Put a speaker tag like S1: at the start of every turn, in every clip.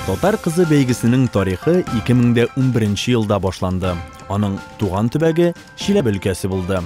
S1: Татар кызы бәйгесенең тарихы 2011 елда башланды. Аның туган төбәге Чиләбе өлкәсе булды.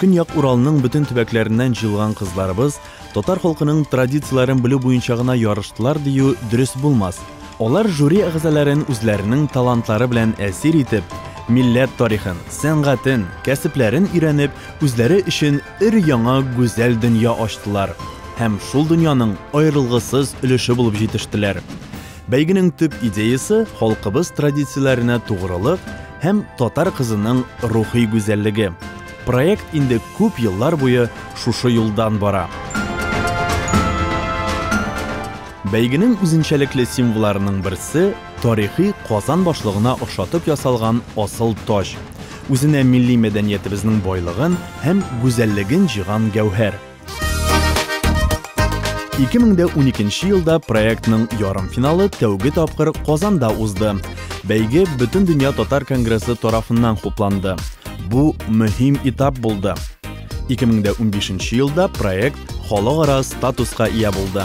S1: Көньяк Уралның бөтен төбәкләреннән җыелган кызларыбыз татар халкының традицияләрен белү буенча гына ярыштылар дию дөрес булмас. Алар жюри әгъзаларын үзләренең талантлары белән әсир итеп, милләт тарихын, сәнгатен, кәсепләрен өйрәнеп, үзләре өчен өр-яңа гүзәл дөнья ачтылар. һәм шул дөньяның аерылгысыз өлеше булып җитештеләр. Бәйгенең төп идеясе халкыбыз традицияләренә тугрылык һәм татар кызының рухи гүзәллеге. Проект инде күп еллар буе шушы юлдан бара. Бәйгенең үзенчәлекле символларының берсе, тарихи Казан башлыгына охшатып ясалган асыл таҗ. Үзенә милли мәдәниятебезнең байлыгын һәм гүзәллеген җыйган гәүһәр. 2012 елда проектның ярым финалы тәүге тапкыр Казанда узды. Бәйге Бөтен дөнья татар конгрессы тарафыннан хупланды. Бу мөһим этап булды. 2015 елда проект халыкара статуска ия булды.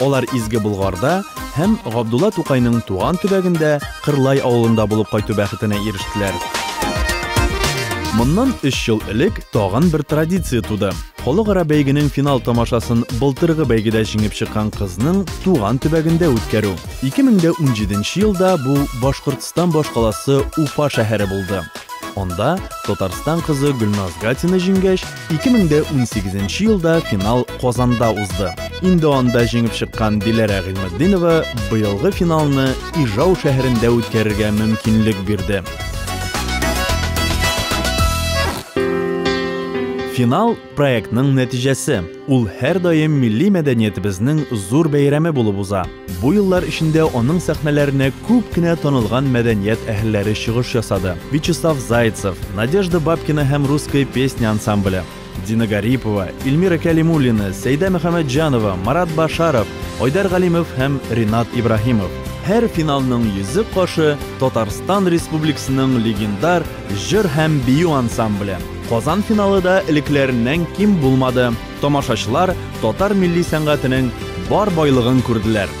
S1: Алар Изге Болгарда һәм Габдулла Тукайның туган төбәгендә Кырлай авылында булып кайту бәхетенә ирештеләр. Моннан өч ел элек тагын бер традиция туды. Халыкара бәйгенең финал тамашасын былтыргы бәйгедә җиңеп чыккан кызның туган төбәгендә үткәрү. 2017 елда бу Башкортстан башкаласы Уфа шәһәре булды. Анда Татарстан кызы Гөлназ Гатина җиңгәч, 2018 нче елда финал Казанда узды. Инде анда җиңеп чыккан Диләрә Гыйльметдинова быелгы финалны Ижау шәһәрендә үткәрергә мөмкинлек бирде. Финал проектның нәтиҗәсе. Ул һәрдаим милли мәдәниятебезнең зур бәйрәме булып уза. Бу еллар эчендә аның сәхнәләренә күп кенә танылган мәдәният әһелләре чыгыш ясады, Вячеслав Зайцев, Надежда Бабкина һәм Русская песня ансамбле, Дина Гарипова, Ильмира Кәлимуллина, Сәйдә Мөхәммәтҗанова, Марат Башаров, Айдар Галимов һәм Ринат Ибраһимов. Һәр финалның йөзек кашы, Татарстан Республикасының легендар җыр һәм бию ансамбле. Казан финалы да элеккеләреннән ким булмады. Тамашачылар татар милли сәнгатенең бар байлыгын күрделәр.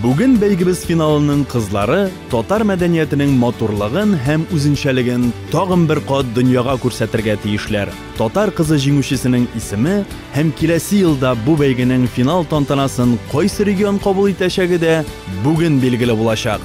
S1: Бүген бәйгебез финалының кызлары татар мәдәниятенең матурлыгын һәм үзенчәлеген тагын бер кат дөньяга күрсәтергә тиешләр. Татар кызы җиңүчесенең исеме һәм киләсе елда бу бәйгенең финал тантанасын кайсы регион кабул итәчәге дә бүген билгеле булачак.